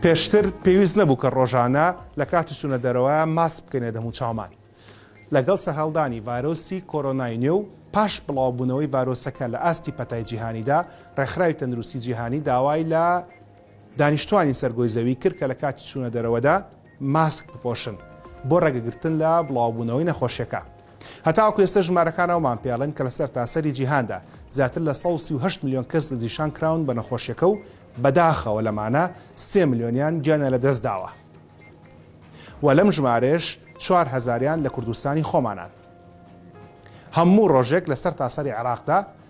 پێشتر پێویست نەبوو کە ڕۆژانە لە کاتی سونە دەرەوە ماس بکەنێ دەموو چاومان. لەگەڵ سەرهەڵدانی ڤایرۆسی کۆرۆنای نوێ و پاش بڵاوبوونەوەی ڤایرۆسەکە لە ئاستی پەتای جیهانیدا، ڕێکخراوی تەندروستی جیهانی داوای لە دانیشتوانی سەر گۆی زەوی کرد کە لە کاتی چوونە دەرەوەدا، ماسک بپۆشن بۆ ڕێگەگرتن لە بڵاوبوونەوەی نەخۆشیەکە. هەتاوەکو ئێستا ژمارەکان ئەومان پێڵێن کە لە سەرتاسەری جیهاندا زیاتر لە سەد و سی و هەشت ملیۆن کەس دەستنیشان کراون بە نەخۆشیەکە و بەداخەوە لەمانە سێ ملیۆنیان گیانیان لەدەست داوە و لەم ژمارەیەش چوار هەزاریان لە کوردستانی خۆمانان. هەموو ڕۆژێک لە سەرتاسەری عێراقدا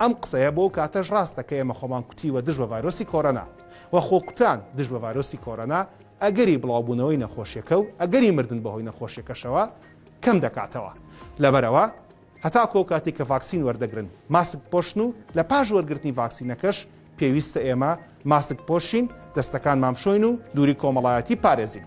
ئەم قسەیە بۆ ئەو کاتەش ڕاستە کە ئێمە خۆمان کوتیوە دژ بە ڤایرۆسی کۆرۆنا و خۆکوتان دژ بە ڤایرۆسی کۆرۆنا ئەگەری بڵاوبوونەوەی نەخۆشیەکە و ئەگەری مردن بەهۆی نەخۆشیەکەشەوە کەم دەکاتەوە لەبەرەوە هەتاکۆ ئەو کاتی کە ڤاکسین وەردەگرن ماسک پۆشن و لە پاش وەرگرتنی ڤاکسینەکەش پێویستە ئێمە ماسک پۆشین دەستەکان مامشۆین و دووری کۆمەڵایەتی پارێزین.